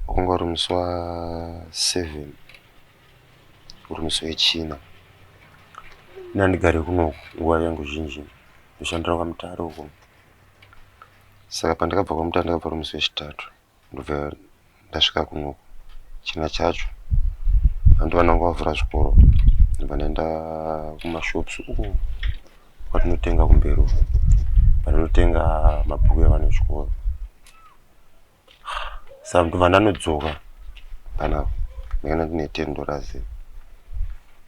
Wakanga uri musi wa seven uri musi weChina. Ini handigare kuno nguva yangu zhinji ndoshandira kwaMutare uko. Saka pandakabva kwaMutare ndakabva uri musi weChitatu ndobva ndasvika kuno China chacho. Hanti vana vanga vavhura zvikoro ndobva ndaenda kumashops uko kwatinotenga kumberi uko. Kwatinotenga mabhuku evana vechikoro. saka kuti mwana anodzoka kana ndakana ndine tendo razi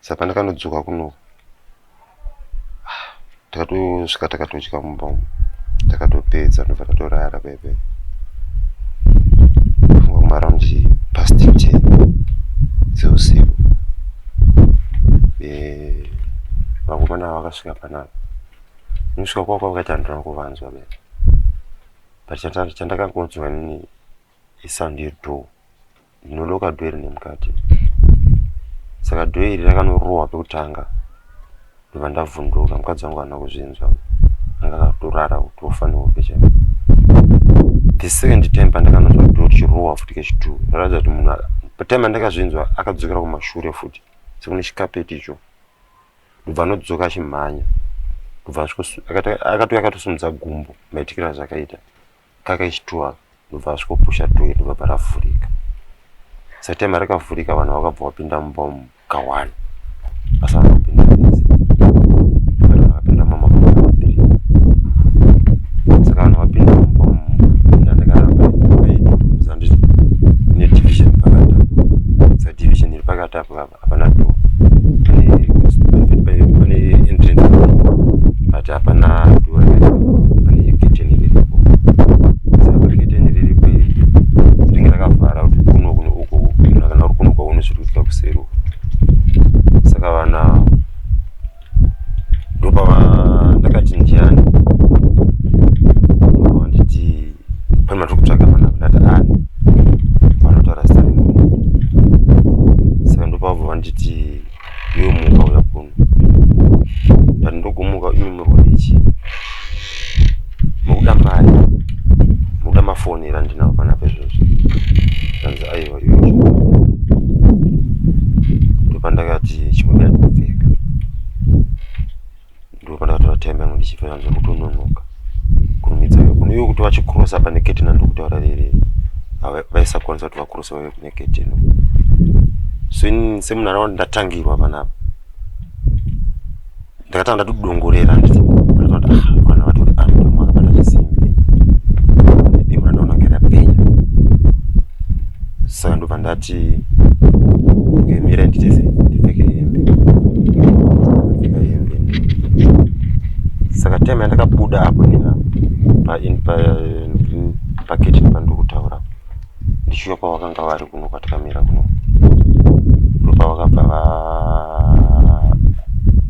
saka pandakanodzoka kuno takatosvika takatotya mumba umu takatopedza ndobva tatorara bebe funga kumaraund past ten dzeusiku vakomana vakasvika panapa nosvika kwako vakaita ndona kuvanzwa bebe but chandakangonzwa nini isound yedoor ndinodooka door iri nemukati saka door iri rakanorohwa pekutanga ndobva ndavhunduka mukadzi wangu ana kuzvinzwa anga akatorara kutofa nehope chaiyo the second time pandakanonzwa door richirohwa futi kechitwo raratidza kuti munhu patime andakazvinzwa akadzokera kumashure futi sekune chikapeti icho ndobva anodzoka achimhanya ndobva akatouya akatosumudza gumbo maitikira azvakaita kakaishitua ndobva asvikopusha doe ndobva paravhurika satime rakavhurika vanhu vakabva vapinda mumba umu kawani asi vanhu vapinda vese vanhu vakapinda mama vaviri saka vanhu vapinda mumba umu ndandakarabaaiiza ndizi ine division pakata sa division iri pakati apo vava hapana do pane entrance but hapana do pane kitchen riripo saka kitchen riripo iri rinenge rakavhara kuti kuno kuno uko kana uri kuno kwaune zviri kuitika kuseri uko saka vana ndopava ndakati ndiani nditi pane matiri kutsvaga pana ndati ani vanotaura zita remunhu saka ndopavabva vanditi yomuka uya kuno ndati ndogomuka imi muri kudii chii mukuda mari mukuda mafoni ere andinawo pana pezvozvo anzi aiwa iwe ndopandakati chimwe bera kupfeka ndopandakatora time yangu ndichipfeka nzwa kutononoka kurumidza kuno iwe kuti vachikrosa pane ketina ndokutaura rere vaisakwanisa kuti vakrosa vave kune ketino so ini semunhu anava ndatangirwa panapa ndakatanga ndatodongorera saka ndobva ndati ngemira nditese ndipfeke hembe ndipfeka hembe saka time yandakabuda apo nina paketini pandokutaura ndichiuya kwavakanga vari kuno kwatikamira kuno ndopavakabva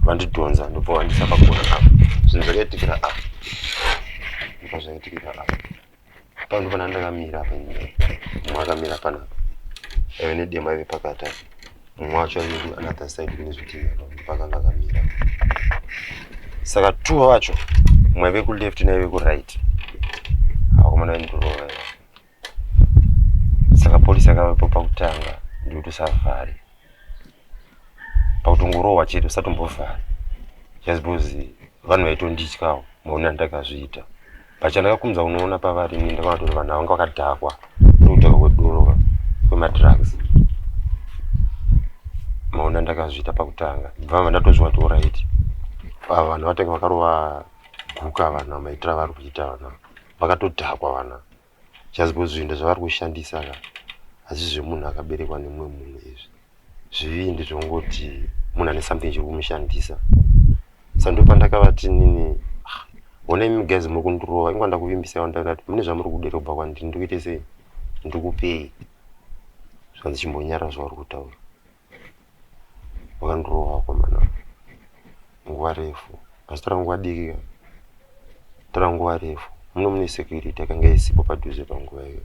vandidhonza ndobva vandisa pagona apa zvinhu zvakaitikira apa ndobva zvaitikira apa pano pana ndakamira apa mumwe akamira panapa aive nedema aive pakati apa mumwe wacho aive kuanother side kune zvitima pakanga akamira saka two vacho mumwe aive kuleft naive kuright akomana vaindirova saka polisi akavepo pakutanga ndikuti usavhare pakutongorohwa chete usatombovhare just because vanhu vaitondityawo maone andakazviita pachandakakumza unoona pavari ini ndakaona kuti vanhu vanga vakadhakwa nokudhakwa kwedoro kwemadrugs maone andakazviita pakutanga bvama ndatozviona kuti orit ava vanhu vatenge vakarova guka vanhu vamaitira vari kuita vanhu vakatodhakwa vana just because zvinda zvavari kushandisa ka hazvi zvemunhu akaberekwa nemumwe munhu izvi zvivindi zvongoti munhu ane something chiri kumushandisa sandopandakavati nini ah, hona imi guys muri kundirova ingwa ndakuvimbisai wandati mune zvamuri kuderobha kwandiri ndikuite sei ndikupei zvanzi chimbonyara zvauri kutaura Wakandirova akomana nguva refu asi tora nguva diki ka tora nguva refu muno mune security yakanga isipo padhuze panguva iyo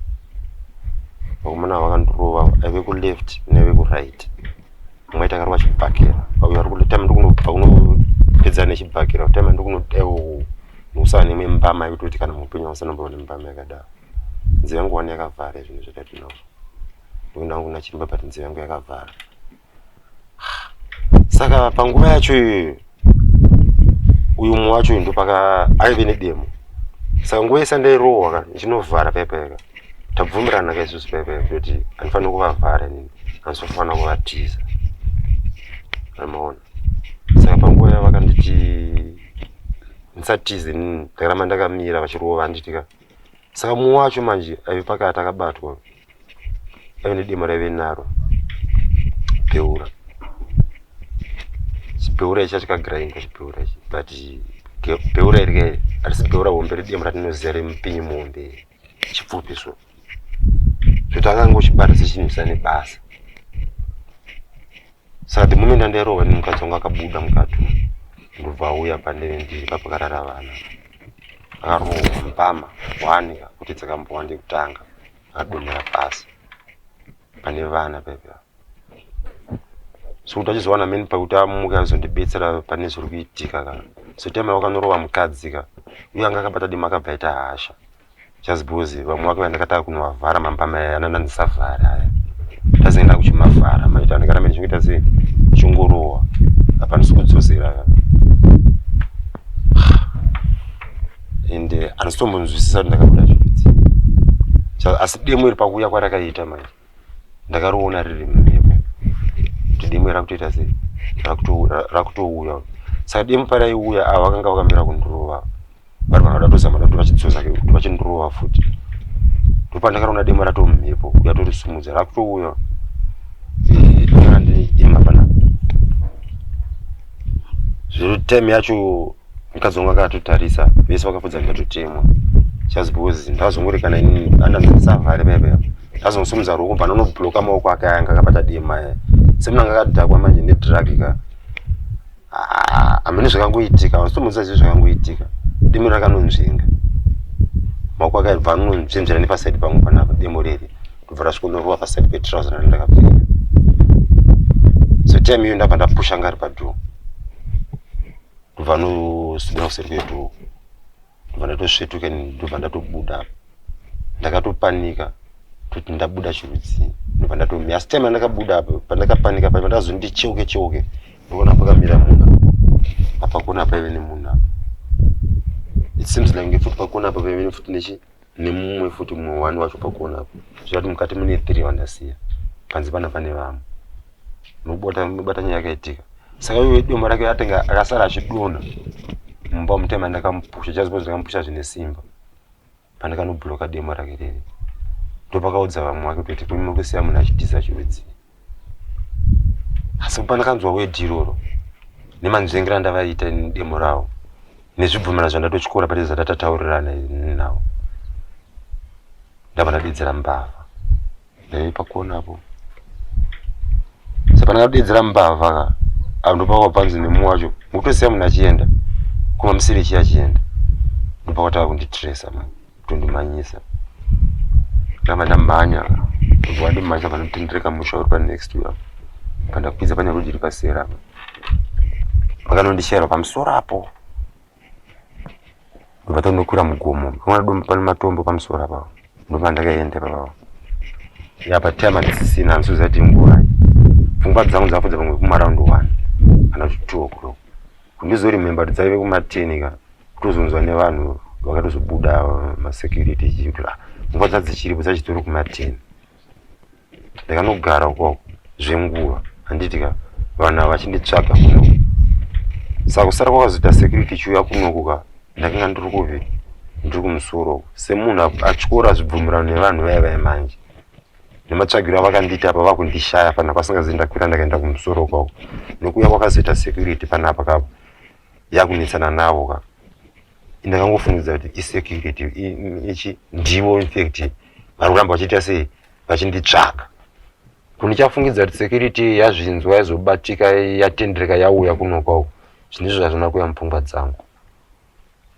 vakomana ava vakandirova aive kuleft naive kuright mumwe aita akarova chibhakera uyo ari kutama ndikunobva kunopedza nechibhakera kutama ndikunodewo musava nemwe mbama yekutoti kana muupenyu ausanomboone mbama yakadaro nzira yangu wani yakavhara zvinhu zvatati nazvo ndoona hangu nachiremba but nzeve yangu yakavhara saka panguva yacho iyoyo uyu mumwe wacho uyu ndopaka aive nedemo saka nguva yese ndairohwa ka ndichinovhara paipaika tabvumirana ka isusu paipaika kuti andifanira kuvavhara nini andisofanira kuvatiza amaona saka panguva yavo vakanditi ndisatize nini ndakaramba ndakamira vachirova vanditika saka mumwe wacho manje aive pakati akabatwa aive nedemo raive naro beura chibeura ichi achikagirainga chibeura ichi but beura iri ke harisi beura hombe ridemo ratinoziva remupinyi muhombe chipfupi so zvotanganga uchibata sechinhu chisa nebasa saka the moment andairohwa nemukadzi wangu akabuda mukati ndobva auya pandeve ndiri papakarara vana akarohwa mbama wanika kuti dzakambowa ndekutanga akadonhera pasi pane vana paipa sokuti achizowana meni pakuti amuke azondibetsera pane zviri kuitika ka sotema wakanorowa mukadzi ka uye anga akabata dima akabva aita hasha just because vamwe vake vandakataka kunovavhara mambama aya anana ndisavhara aya ndazoenda kuchimavhara maita ndikana meni chingoita sei chingorowa hapana sikudzosera ka and eh, handisi tombonzwisisa kuti ndakabuda zvirudzi asi demo iri pakuuya kwarakaita manje ndakariona riri mhepo kuti demo iri rakutoita sei rakutouya saka demo paraiuya avo vakanga vakamira kundirova vari vanoda tozama da kuti vachidzosa kuti vachindirova futi ndopandakaona demo rato mhepo kuya torisumudza rakutouya eh, zviri time yacho mukadzi wangu akatotarisa vese vakafudza ndatotemwa just because ndazongori kana ini andandisavari bebe ndazongosumudza ruoko bva nonobloka maoko ake aya ngakabata dema aya semunanga akadhakwa manje nedrag ka ah, amene zvakangoitika vasitomuudza zii zvakangoitika demo rakanonzvenga maoko ake aibva anonzvenzvera nepasaidi pangu panapa demo riri ndobva rasvikonorova pasaidi petrouse rani ndakapfeka so time iyo ndabva ndapusha ngari padoor ndobva ndoswedera kuseri kwedu ndobva ndatosvetuka ndobva ndatobuda ndakatopanika kuti ndabuda chirudzii ndobva ndatomira asi time andakabuda apo pandakapanika paiva ndakazoniti cheuke cheuke ndokuona pakamira munhu apa kona paive nemunhu apa it seems like ngefuti pakona apa paive nefuti nechi nemumwe futi mumwe wani wacho pakuona apo zvirati mukati mune three vandasiya panze pana pane vamwe nobata nyaya yakaitika saka iwe doma rake atenge akasara achidona mumba mutema ndakamupusha jazbo ndakamupusha zvine simba pandakanobloka demo rake riri ndopakaudza vamwe wake kuti kuima kusiya munhu achitiza chirudzii asi pandakanzwa wedhi iroro nemanzvengera andavaita demo ravo nezvibvumira zvandatotyora pane zvandatataurirana ini navo ndava ndadedzera mbavha ndaive pakuonapo saka ndakadedzera mbavha ka apo ndopakabva panzi nemumwe wacho mukutosiya munhu achienda kuma musiri chiya achienda ndopakatava kunditresa mani kutondimhanyisa ndava ndamhanya kubva wandimhanyisa panotendereka musha uri panext uya pandakwidza pane road iri pasera apa pakanondishaira pamusoro apo ndobva tondokwira mugomo pamwana domo pane matombo pamusoro apa ndopa ndakaenda ipapapa ya patime atisisina andisozati nguva pfungwa dzangu dzakudza pamwe kumaraundi one kana kuti two o'clock Kundizoremember kuti dzaive kumateni ka kutozonzwa nevanhu vakatozobuda masecurity ichii kuti ah, nguva dzadzichiripo dzachitori kumateni ndakanogara ukoko zvenguva handiti ka vanhu ava vachinditsvaga kuno saka kusara kwakazoita security chiuya kunoku ka ndakanga ndiri kuvi ndiri kumusoro uku semunhu atyora zvibvumirano nevanhu vaya vaya manje nematsvagiro avakandiita apa vakundishaya pana kwasingazi ndakwira ndakaenda kumusoro kwavo nokuya kwakazoita security panapa kavo yakunetsana navo ka ndakangofungidzira kuti isecurity ichi ndivo infact vari kuramba vachiita sei vachinditsvaga kundichafungidza kuti security yazvinzwa yazobatika yatendereka yauya kunokwavo zvinizvo zvazvina kuya mupfungwa dzangu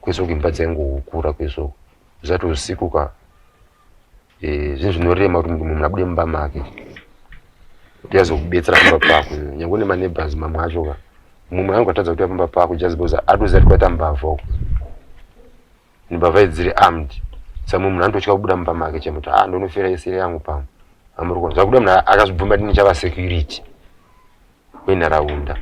kwesoko imba dzaingohukura kwesoko zvisati usiku ka Eh, zvinhu zvinorema kuti munhu munhu abude mumba make kuti azokubetsera pamba pako nyange une maneighbors mamwe acho ka mumwe munhu angatadza kuuya pamba pako just because atoziva kuti kwaita mbavha uko mbavha idzi dziri armed sa mumwe munhu anototya kubuda mumba make chemo kuti ah ndonofira isiri yangu pamwe amurikona zvakuda munhu akazvibvuma kuti ndichava security wenharaunda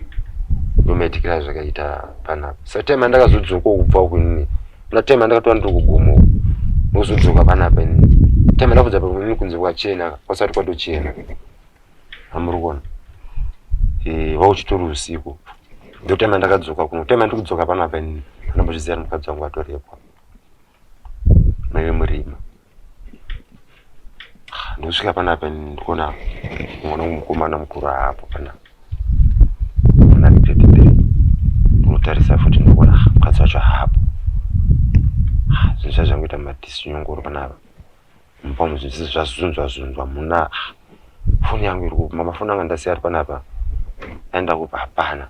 yometikira zvakaita panapa satime andakazodzoka kubva uku inini na time andakatova ndiri kugomo uku ndozodzoka panapa inini time ndakudza pamwe inini kunze kwachena kwasati kwatochena amuri kuona eh, vauchitori usiku ndotime ndakadzoka kuno time ndiri kudzoka panapa inini anambozviziva mukadzi wangu atorepwa maive murima ndosvika panapa ndikuona mwana wemukomana mukuru aapo panapa kutarisa futi ndikuona mukadzi wacho haapo zvinhu zva zvangoita matisinyongoro panapa mupamo zvinhu zvese zvazunzwa zunzwa muna foni yangu iri kupa mafoni anga ndasiya ari panapa aenda kupa hapana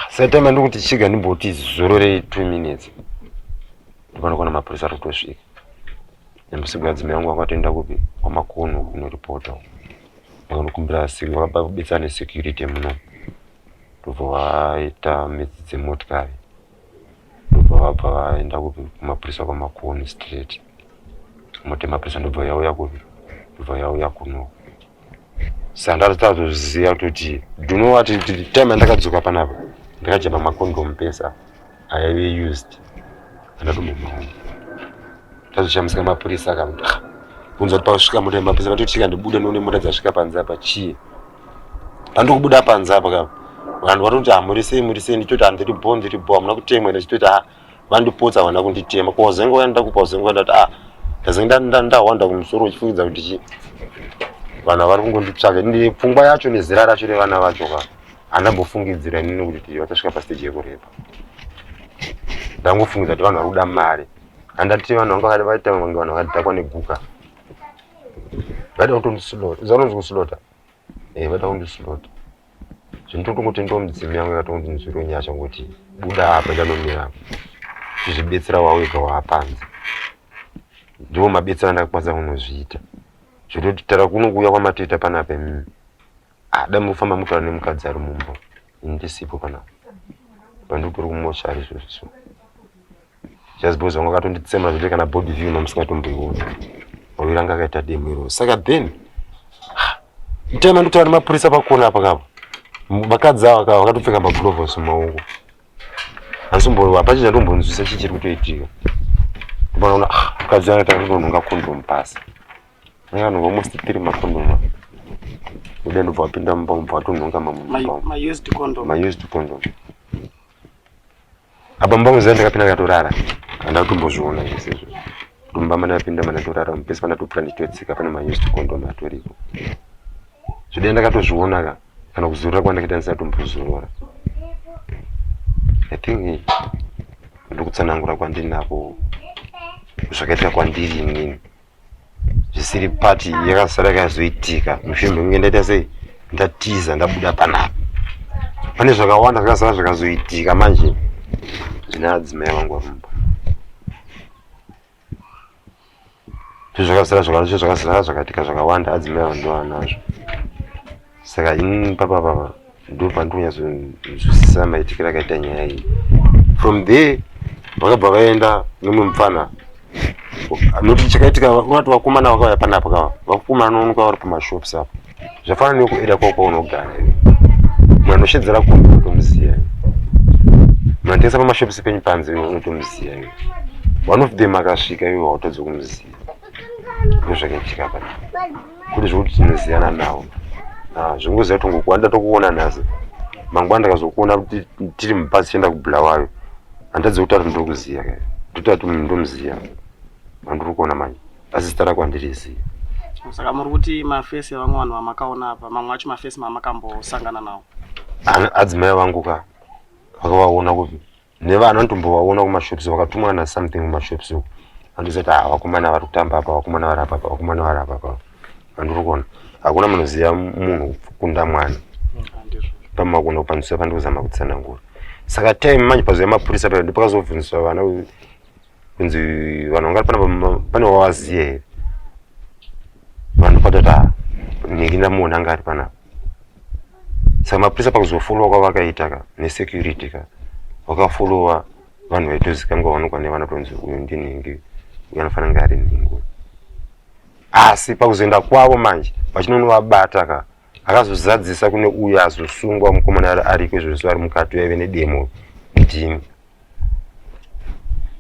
Satema ndokuti chiga ndimboti zororei two minutes ndipanokona mapurisa ari kutosvika nembusigwa dzimai yangu vakatoenda kupi kwamakono kunoripota ndakanokumbira asinga vaba kubetsera nesecurity muno ndobva vaita midzi dzemotikari ndobva vabva vaenda kupi kumapurisa kwamakono straight motemaprisa ndobva yauya kupi ndobva yauya kunoko sandatatoziva kutoti duno wati time yandakadzoka panapa ndakajamba macondom pesa aive used andatomamaona tazoshamisika mapurisa akamuti ah, kunzwa kuti pasvika mota yemapurisa vatotika ndibude noone mota dzasvika panze apa chii pandikubuda panze apa ka vanhu vatoti hamurisei ah, murisei ndichitoti handiri bo ndiri bo hamuna kutemwa ende chitoti ha ah, vandipotsa havana kunditema ko wazenga uya ndakupa wazenga uya ndati ah ndazenga ndahwanda kumusoro uchifungidza kuti chii vanhu vari kungonditsvaka ndi pfungwa yacho nezera racho revana vacho ka handambofungidzira inini kuti vachasvika pasteji yekurepa ndangofungidza kuti vanhu vari kuda mari handati vanhu vanga vakati vaita vange vanhu vakadhakwa neguka vaida kutondisilota uza kunonzi kusilota e eh, vaida kundisilota zvinototongo tendawo midzimu yangu yakatongonzi nzwiro nyasha ngokuti buda apa chanomira apa chizvibetsera wawega waapanze ndiwo mabetsera ndakakwanisa kunozviita zvototi tara kuno kuuya kwamatoita panapa imimi ada mufamba mutaura nemukadzi ari mumba ini ndisipo panapa pandikutori kumoshari izvozvo so just because vanga vakatonditsemura zvekuti kana body view no musingatomboiona maviri anga akaita demo iroo saka then mtaima ndotaura nemapurisa pakona apa kapa vakadzi ava kava vakatopfeka maglovos mumaoko handisomboo hapachii chandombonzwisa chii chiri kutoitika ndopanaona ah, mukadzi anga takutonhonga kondomu pasi anga anhonga almost three makondomu aa uda ndobva wapinda mumba mubva watonhonga mamused condom apa mumba muziva ndakapinda ndikatorara handina kutombozviona zvese izvo mumba mana yapinda mana torara mupesi pana topfuka ndichitotsika pane maused condom atoripo zvidai ndakatozviona ka kana kuzorora kwandakaita ndisina tombozorora i think ndokutsanangura kwandinako zvakaita kwandiri inini zvisiri pati yakasara yakazoitika mushure mekunge ndaita sei ndatiza ndabuda panapa pane zvakawanda zvakasara zvakazoitika manje zvine adzimai vangu varumba zvakasara zvakaitika zvakawanda adzimai vangu ndovanazvo saka ini papa papa ndo pandonyazonzwisisa maitikiro akaita nyaya iyi from there vakabva vaenda nemwe mupfana noti chakaitika unati vakomana vakauya panapa kava vakomana nonoka vari pamashops apo zvafana nekueda kwao kwaunogara mwana anoshedzera kunge unotomuziva munatengesa pamashops penyu panze unotomuziva iwe one of them akasvika iwe wautadza kumuziva ndozvakaitika panapa kune zvekuti tinoziyana navo ah, zvingoziva kuti ngokuwa ndida tokuona nhasi mangwana ndakazokuona kuti tiri mubhazi tichienda kubulawayo handadzi kuti ati ndiri kuziva ka ndoti ati munhu ndomuziva mandiri kuona manje asi zita rako handiriziva saka muri kuti mafesi evamwe vanhu vamakaona apa mamwe acho mafesi mamakambosangana nawo adzimai vangu ka vakavaona kupi nevana anotombovaona kumashops vakatumwa na something kumashops uko andizoti ah vakomana vari kutamba apa vakomana vari apa vakomana vari apa apa andiri kuona hakuna munoziva munhu kunda mwana pamakona kupandusa pandikuzama kutsanangura saka time manje pazoya mapurisa pa ndipakazobvunziswa vana kunzi vanhu vangari pana pane wavaziye here vanhu patota nhingi ndamuona anga ari panapa saka mapurisa pakuzofolowa kwavakaita ka nesecurity ka vakafolowa vanhu vaitozikanga vanokwa nevana tonzi uyu ndinhingi uyu anofanira nga ari nhingi asi pakuzoenda kwavo manje vachinonovabata ka akazozadzisa kune uyo azosungwa mukomana ari ariko izvozvo ari mukati vaive nedemo ndimi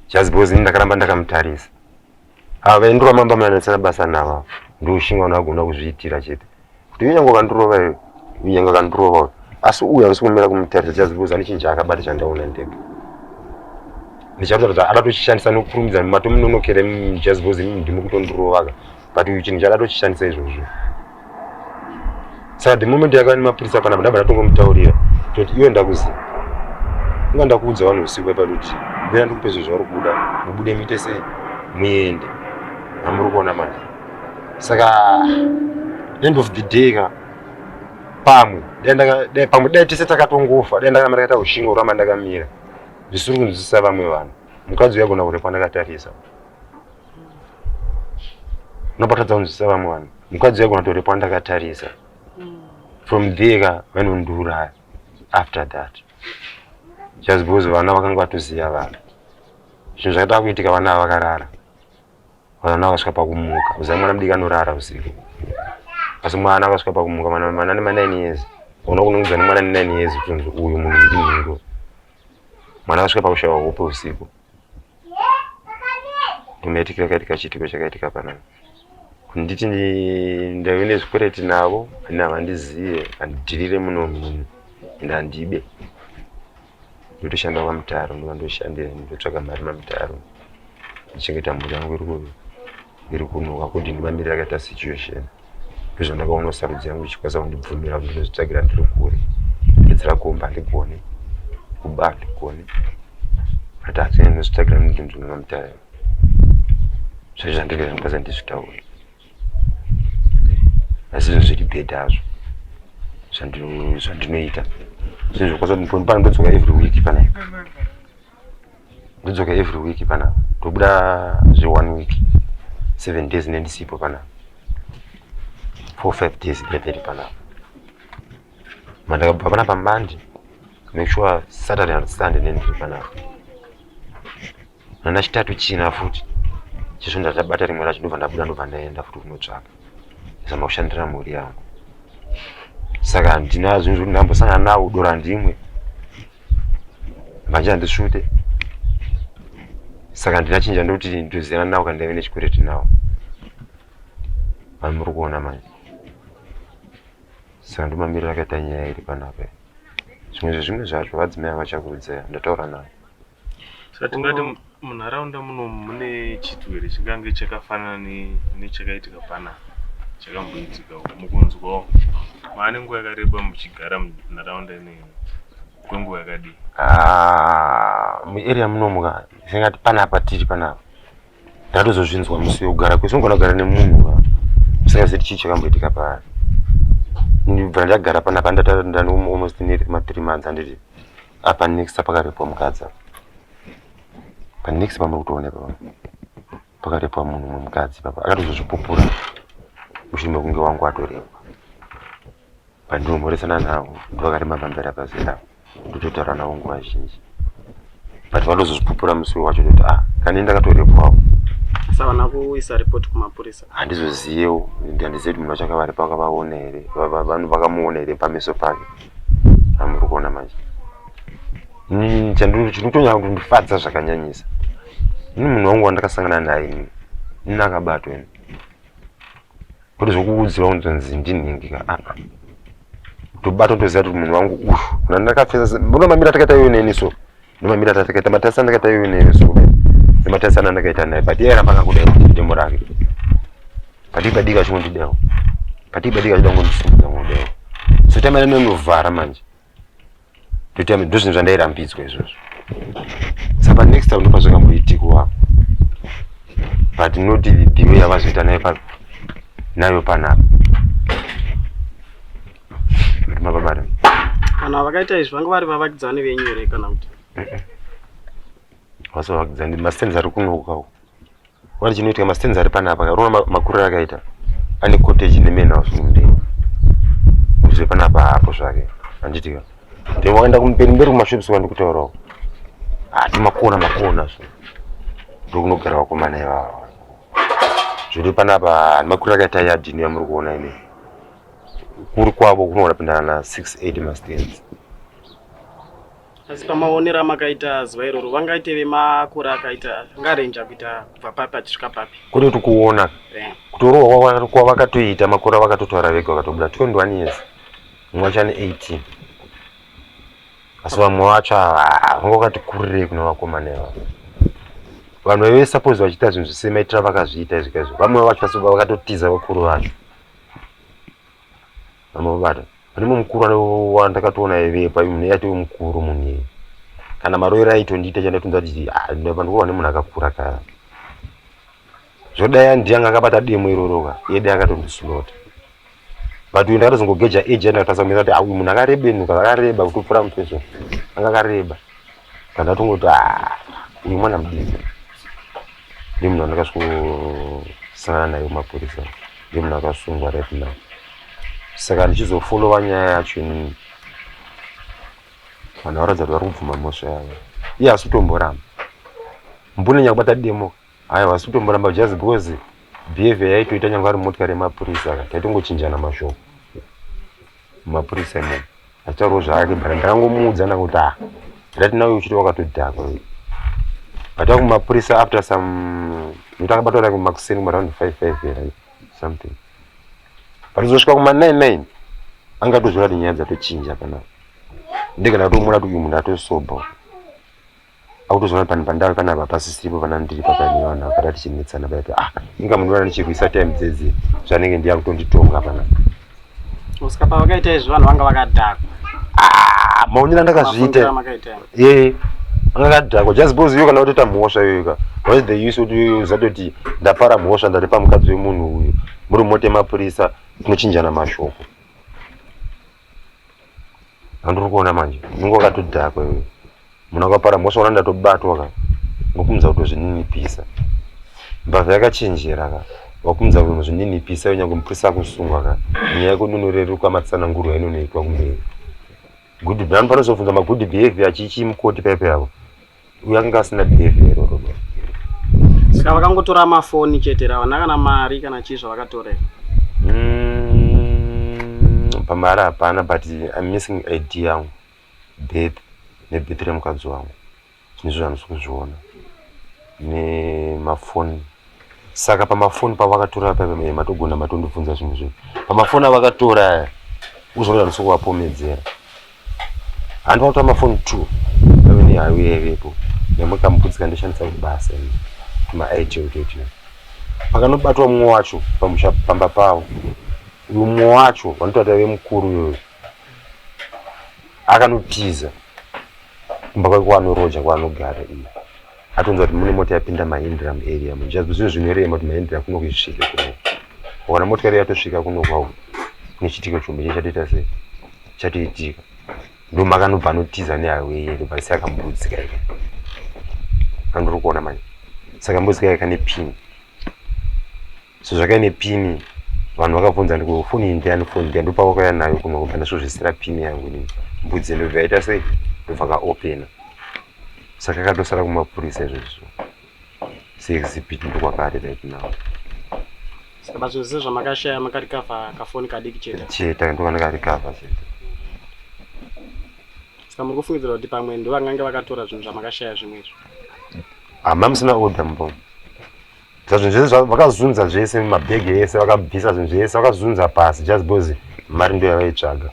just because ini ndakaramba ndakamutarisa ava vaindurova mamba manetsana basa nava ndoshinga unagona kuzviitira chete kuti unyange kandurova iyo unyange kandurova uyo asi uyu andisi kumira kumutarisa just because ane chinhu chaakabata chandaona ndega ndichatoratidza adatochishandisa nokukurumidza matomunonokere just because ndimi kutondirovaka but uyu chinhu chaadatochishandisa izvozvo saka the moment yakava nemapurisa panapa ndabva ndatongomutaurira toti iwe ndakuziva inga ndakuudza vanhu usiku ipa kuti bvira ndikupe zvinhu zvauri kuda mubude muite sei muende hamuri kuona mari saka end of the day ka pamwe pamwe dai tese takatongofa dai ndakama ndakaita ushingo kuramba ndakamira zvisiri kunzwisisa vamwe vanhu mukadzi uyagona kurepa ndakatarisa unobatadza kunzwisisa vamwe vanhu mukadzi waigona tore pandakatarisa mm. from there ka vanondiuraya after that just because vana vakanga vatoziva vana zvinhu zvakatava kuitika vana ava vakarara vana vakasvika pakumuka uziva mwana mudiki anorara usiku asi mwana akasvika pakumuka mana nemanine years ona kunongudza nemwana nenine years kutonzi uyu munhu ndinhingo mwana akasvika pakushaiwa hope usiku nemaitikiro akaitika chiitiko chakaitika panapa kunditi ndave nezvikwereti navo ani havandizive handidhirire muno munhu and handibe ndotoshanda kwamutaro ndovandoshandira ndotsvaga mari mamutaro ndichengeta mhuri yangu iri kuvi iri kunuka kudini mamiri akaita situation ndizvo ndakaona sarudzo yangu ichikwanisa kundibvumira kuti ndozvitsvagira ndiri kure edzera kumba ndigone kuba ndigone but hadzine ndozvitsvagira ndinzvimama mutare zvaizvo zvandive zvandikwanisa ndizvitaure asi zvinhu zviri bhedha azvo zvandinoita zvinhu zvokwanisa kuti ndodzoka every week panai ndodzoka every week pana tobuda zve one week seven days nendisipo pana four five days ndeveri pana mandakabva pana pamande make sure saturday and sunday nendiri pana nana chitatu china futi chizvo ndatabata rimwe racho ndobva ndabuda ndobva ndaenda futi kunotsvaka zama kushandira mhuri yangu saka ndinazvo ndambosangana nawo dora ndimwe manje handisvute saka handina chinja ndokuti ndoziyana nawo kana ndaive nechikureti nawo vanhu muri kuona manje saka ndomamirira akaita nyaya iri panapa zvimwe zvezvimwe zvacho vadzimai vachakuudzai ndataura navo Munharaunda muno mune chithu here chingange chakafanana nechakaitika pana chakamboitika mukunzwawo maane nguva yakareba muchigara munharaunda ineyi kwenguva yakadii ah, muarea munomu ka zvingati panapa tiri panapa ndatozozvinzwa musi wekugara kwese ungona kugara nemunhu ka usingazivi chii chakamboitika paari ndibvira ndagara panapa ndataura ndani almost ne mathree months anditi Apa next pakarepwa mukadzi apa. Pa next pamuri kutooneka pano. Pakarepwa munhu mumwe mukadzi papa. Akatozozvipupura mushure mekunge wangu atorepwa. Pandinomuresana navo ndovakarimba pamberi pazera ndototaura navo nguva zhinji but vanozozvipupura musi wacho toti ah kani ndakatorepwawo savana kuisa report kumapurisa handizoziyewo handizivi kuti munhu wacho akavaripaka vaona here vakamuona here pameso pake amuri kuona manje ini chandiri chinotonyanya kundifadza zvakanyanyisa ini munhu wangu wandakasangana naye ini ini akabatwa ini kuti zvokuudzirwa kunzonzi ndinhingika aa ah, tobata toziva kuti munhu wangu uyu nandakapfesa mbona mamira takaita iwe neni so Ndimamira tatakaita matasa ndakaita iwe newe so. Ndimatasa ndakaita naye but yeye aramba akakuda demo rake. Pati padika chimwe ndidewo. Pati padika chida kundisimudza ngodewo. So time ino ndovhara manje. Toita ndozvinhu zvandairambidzwa izvozvo. Saka next time ndopazvanga muitiko wa. But not the way yavazoita naye pa nayo panapa. Mababare. Kana vakaita izvi vanga vari vavakidzani venyu here kana kuti? Vasa vavakidzani mastenzi ari kunokawo. Wari chinoitika mastenzi ari panapa ka rona makurira akaita. Ane cottage nemena wasunde. Muzve panapa hapo zvake. Anditika. Ndipo wakaenda kumberi mberi kumashops wandi kutaurawo. Ati ah, makona makona so. Ndokunogara vakomana ivavo. Zviri panapa makurira akaita yadini yamuri kuona ine. kuri kwavo kunogona kupinda na 68 mastens asi pamaonero amakaita zuva iroro vangaite vemakura akaita ngarenja kuita kubva papi achisvika papi kune kuti kuona eh. kutorohwa kwavakatoita makura vakatotaura vega vakatobuda 21 years mumwe achane 18 asi vamwe vacho vanga vakati kurirei kuna vakomana ivavo vanhu vaive suppose vachiita zvinhu zvisemaitira vakazviita izvika izvo vamwe vacho vakato tiza vakuru vacho amabata pane mumwe mukuru wandakatoona aivepa munhu iye atove mukuru munhu iye kana maroiro aitondiita chandatonza kuti ah, ndapandikuva nemunhu akakura ka zvodai andi anga akabata demo iroro ka iye dai akatondisunota but uyu ndakatozongogeja age yandakatasa kumisa kuti ah, uyu munhu akarebenuka akareba kutopfura mutweso anga akareba Pandatongoti ah uyu mwana mudiki ndiye munhu andakasvikosanana naye kumapurisa ndiye munhu akasungwa right now saka ndichizofollowa nyaya yacho inini vanhu varatidza kuti vari kubvuma mhosva yavo iye hasi kutomboramba mbune nyakubata demo haya hasi kutomboramba just because behavior yaitoita nyanga ari motikari yemapurisa ka taitongochinjana mashoko mumapurisa imene Achitaurawo zvake but ndangomuudza ndakuti ah right now uchiti wakatodhakwa vata kumapurisa after some ndakabatwa like makuseni kuma round 5 5 here something pazosvika kuma 9 9 anga tozvira kuti nyaya dzatochinja kana ndikana kutomuona kuti uyu munhu atosober akutozoona panhu pandave panapa pasisipo panani ndiri pakaine vanhu vakada tichinetsana paya paya ah inga mundiona ndichirwisa time dzedzi zvanenge ndiya kutonditonga pana kusvika pavakaita izvi vanhu vanga vakadhakwa ah maonera ndakazviita ee anga akadhakwa just because iyo kana watoita mhosva iyoika what's the use kuti uzatoti ndapara mhosva ndaripa mukadzi wemunhu uyu muri mote mapurisa tinochinjana mashoko andiri kuona manje unenge wakatodhakwa iwe muna kwapara mosaona ndatobatwa ka ngokumudza kutozvininipisa mbavha yakachenjera ka wakumudza kutozvininipisa iwe nyangwe mupurisa akusungwa ka nyaya yako inonoreruka matsananguro ainonoitwa kumberi good bhanu panozobvunza magood behavior achichii mukoti paipo yavo uyo akanga asina behavior iroro saka vakangotora mafoni chete ravana kana mari kana chii zvavakatorera Mm, pamari hapana but i'm missing id yangu birth nebirth remukadzi wangu zvinhu izvo zvandisi kuzviona nemafoni Saka pamafoni pavakatora paive mai matogona matondibvunza zvinhu zvenyu. Pamafoni avakatora aya uzoona ndisokuvapomedzera. Handi vakatora mafoni two paive nehayo yaivepo nemwe kamupudzi kandishandisa kuti basa ini maIT utotyo. Pakanobatwa mumwe wacho pamusha pamba pavo uyu mumwe wacho vanotaura taive mukuru uyoyo akanotiza kumba kwake kwaanoroja kwaanogara iyo atonzwa kuti mune mota yapinda mahindra muarea muno zvazvo zvinhu zvinorema kuti mahindra kuno kuisvike kuno kana motikari yatosvika kuno kwau nechitiko chombe chee chatoita sei chatoitika ndo makanobva anotiza neaweye ndobva asi akambudzi kai andiri kuona manje saka mbudzi kai kane pin so zvakaine pini vanhu vakabvunza ndiko foni iyi ndiyani foni ndiya ndopakwakauya nayo kuno kubva ndasvozvisira pini yangu ini mbudzi ndobva yaita sei ndobva kaopena saka katosara kumapurisa izvozvo seexhibit ndokwakari right now but zvese zvamakashaya makarikavha kafoni kadiki chete chete ndovana karikavha chete saka muri kufungidzira kuti pamwe ndovangange vakatora zvinhu zvamakashaya zvimwe izvo hama musina order mbo zvazvinhu zvese vakazunza zvese mabhegi ese vakabvisa zvinhu zvese vakazunza pasi just because mari ndo yavaitsvaga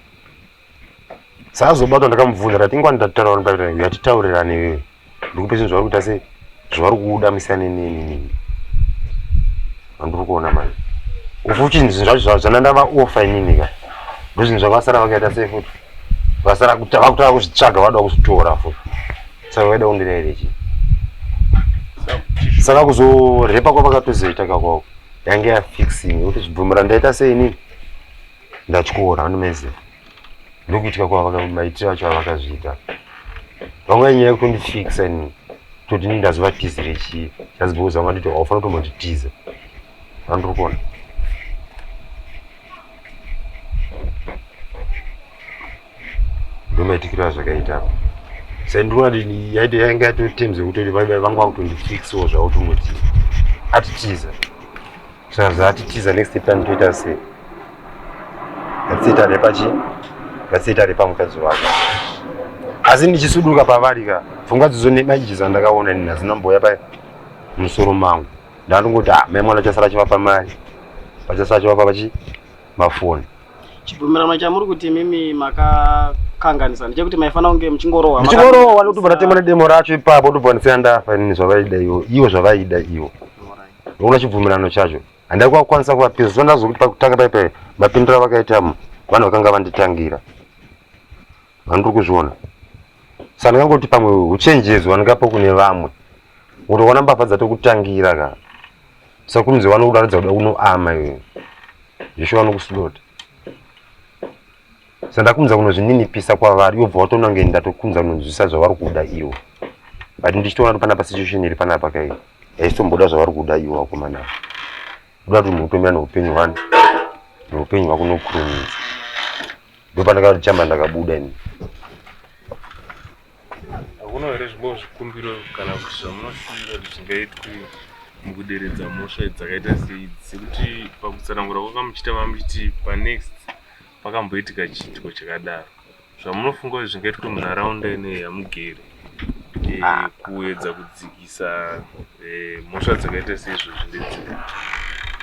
saazobatwa ndakamubvunza ndati ingwani ndatitaura ndaita yatitaurirane iwewe ndikupe zvinhu zvavari kuita se zvavari kuda musiyane nenini andiri kuona manje ufuti zvinhu zvacho zvana ndavaofa inini ka ndozvinhu zvavasara vakaita se futi vasara vakutaa kuzvitsvaga vada kuzvitora futi Saka waida kundirayira chii? Saka kuzorepa kwavakatozoita kakwawo yange yafixing kuti zvibvumira ndaita sei inini ndatyora anomezera ndokuitika kwavakamaitiro acho avakazviita vangava nyaya yekundifixa inini toti ini ndazova tizi rechii chazibouza vanga nditi haufanira kutombonditiza andiri kuona ndomaitikiro azvakaita apa sai ndinoona yaiti yainge yatori terms yekutoti vanga vakutondifixawo zvavo tongoti atitiza saka atitiza next time toita sei ngatisiyita repachi ngatisiyita repamukadzi wako asi ndichisuduka pavari ka pfungwa dzidzo nemaiji dzandakaona nini hadzina mboya pa musoro mangu ndandongoti ah, mai mwana chasara chivapa mari vachasara chivapa vachi mafoni chibvumirano chamuri kuti imimi makakanganisa ndechekuti maifanira kunge muchingorohwa muchingorohwa ndotobva ndatema nedemo racho ipapo ndobva ndisiya ndafa inini zvavaida ivo ivo zvavaida ivo ndoona chibvumirano chacho handai kwakukwanisa kuvapinza so ndazokuti pakutanga paipai mapindura vakaitamo vanhu vakanga vanditangira vandiri kuzviona Saka ndingangoti pamwe uchenjedzo wandingapo kune vamwe unotoona mbavha dzatokutangira ka sakunzi vanokudaridza kuda unoama iwe zvisho vanokuslota sa ndakunza kunozvininipisa kwavari ivo bva watoona kunge ndatokunza kunonzwisisa zvavari kuda ivo but ndichitoona kuti panapa situation iri panapa kai haitomboda zvavari kuda ivo vakomana kuda kuti munhu utomira neupenyu hwani neupenyu hwako nokurumidza ndopandakati chama ndakabuda ini hakuna here zvimwewo zvikumbiro kana kuti zvamunoshuvira kuti zvingaitwe mukuderedza mhosva dzakaita seidzi sekuti pakutsanangura kwakamuchita mamuchiti panext pakamboitika chiitiko chakadaro zvamunofunga kuti zvingaitwe munharaunda inei yamugere eh, ah. kuedza kudzikisa ah. Eh, mhosva dzakaita seizvozvi ndedzipi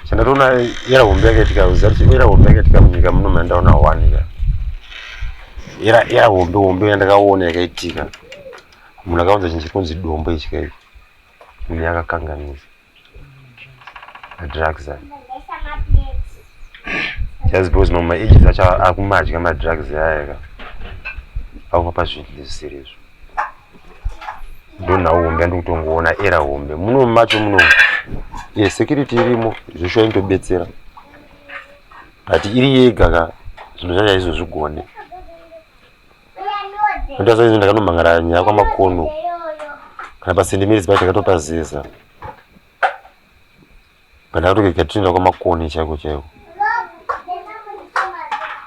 chandatoona era hombe yakaitika uzati era hombe yakaitika munyika muno mandaona one ka era era hombe hombe yandakaona yakaitika munhu akaunza chinhu chekunzi dombo ichi kaiko uye akakanganisa madrugs ayo just because mamwe ages acho akumadya madrugs aya ka akupa pazvinhu zvisiri izvo ndona hombe andikutongoona era hombe muno macho muno ye security irimo zvesho yaindobetsera but iri yega ka zvinhu zvacho aizozvigone ndasaizi ndakanomhangarara nyaya kwamakono kana pasendemerisi pacho akatopazeza kana kuti kuita tinoenda kwamakoni chaiko chaiko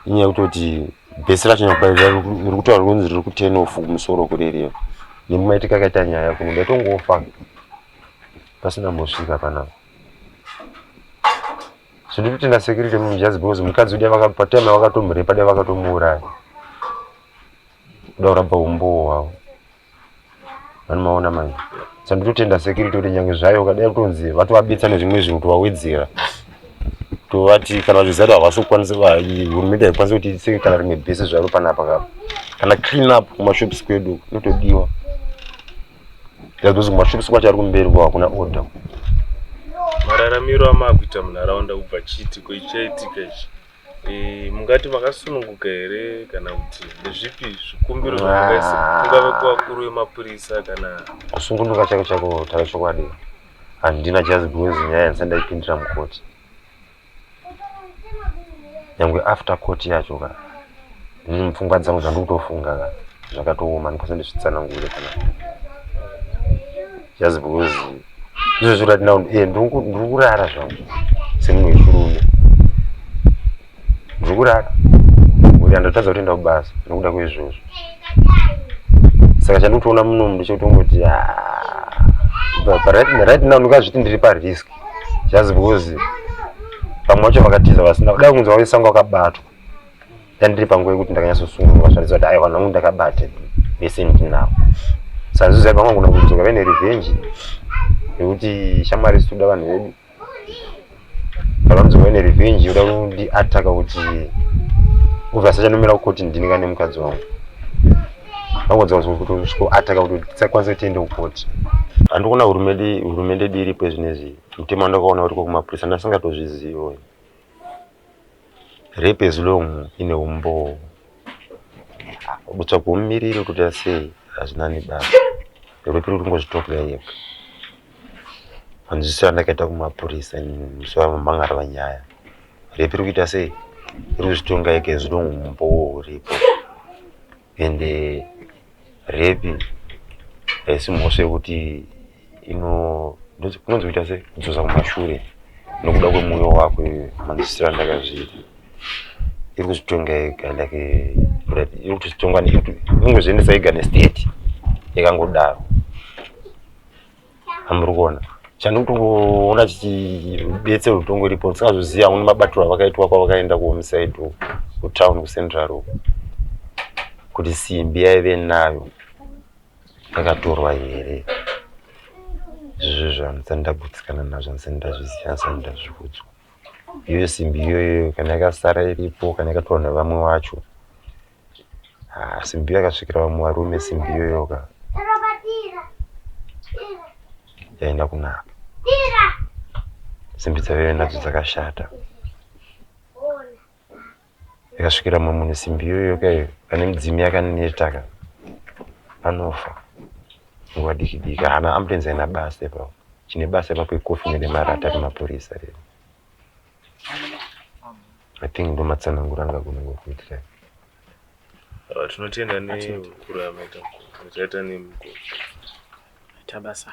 inyaya yekutoti bhesi racho iri kutaura kunzi riri kutenofu kumusoro kurereva nemumaitika akaita nyaya kuno ndaitongofa pasina mbosvika panapa so ndiri kutenda security mumujadzi because mukadzi udia vakapatime vakatomurepa dia vakatomuuraya kuda kuramba umbowo hwavo Vani maona manje. Sanditotenda security kuti nyange zvayo ukadai kutonzi vatovabetsa nezvimwe zvinhu tovawedzera. Tovati kana vachiziva kuti havasi kukwanisa hurumende haikwanisi kuti itsenge kana rimwe bhesi zvaro panapa kapa. Kana clean up kumashops kwedu inotodiwa. That's because kumashops kwacho ari kumberi kwa hakuna order. Mararamiro amakuita munharaunda kubva chiti ko ichaitika ichi. Eh, mungati makasununguka here kana kuti ndezvipi zvikumbiro ah. zvamakaisa kungave kuvakuru vemapurisa kana kusungunuka chako chako tara chokwadi handina just because nyaya yandisa ndaipindira mukoti nyangwe after court yacho ka mm, pfungwa dzangu zvandikutofunga ka zvakatooma ndikosa ndisvitsanangure kana just because izvo zviri kuti now eh, ndiri kurara zvangu semunhu wechirume ndiri kurara kuti andotadza kutoenda kubasa nokuda kweizvozvo saka chandikutoona munomu ndichotongoti ah, right now ndikazviti ndiri parisk just because pamwe vacho vakatiza vasina kudai kunzi vaisango akabatwa ndandiri panguva yekuti ndakanyatsosununguka zvaratidza kuti aiwa nhangu ndakabate vese ndinavo saka zvizoziva pamwe kuna kudzoka vene revenge nekuti shamwari situda vanhu vedu pavanodzoka vene revenge yoda kundiataka kuti ubva asachanomira kukoti ndini kane mukadzi wangu vangodzaakutoataka kuti tisakwanisa kutiende kukoti handikuona hurumende dii iripo zvinezvi mutemo wandakaona uri kokumapurisa ndasingatozvizivi Rape as long ine umboo. Kutsvaga mumiriri wekuita sei hazvina nebasa. Rape iri kungozvitopwa yega. Hanzwisisa ndakaita kumapurisa musi wamanga ari vanyaya. Rape iri kuita sei? Iri kuzvitonga yega as long umboo huripo. and uh, rape haisi mhosva yekuti inononzi kuita se kudzosa kumashure nokuda kwemoyo wako manzisira ndakazviita iri kuzvitonga ega like iri kutozvitonga inongozviendesa ega nestate yakangodaro amuri kuona chandotongoona chichibetse rutongo iripo ndisingazoziva amwe mabatiro avakaitwa kwavakaenda kuhomeside uko kutown kucentral uko kuti simbi yaive nayo yakatorwa here izvozvo zvanisani ndagutsikana nazvo anisani ndazviziva anisani ndazviudzwa iyoyo simbi iyoyoyo kana yakasara iripo kana yakatorwa nevamwe wacho Ah, simbi yakasvikira vamwe varume simbi iyoyoka yaenda kunaka simbi dzaveve nadzo dzakashata yakasvikira mumwe munhu simbi iyoyoka iyo pane midzimu yakanetaka anofa nguva diki diki haana ambulenzi aina basa ipapo chine basa ipapo ikofi nemarata remapurisa rero I think ndo matsanangura anga kunenge kuitira. Ah, tinotenda ne kura yamaita mukuru. Taita ne mukuru. Tabasa.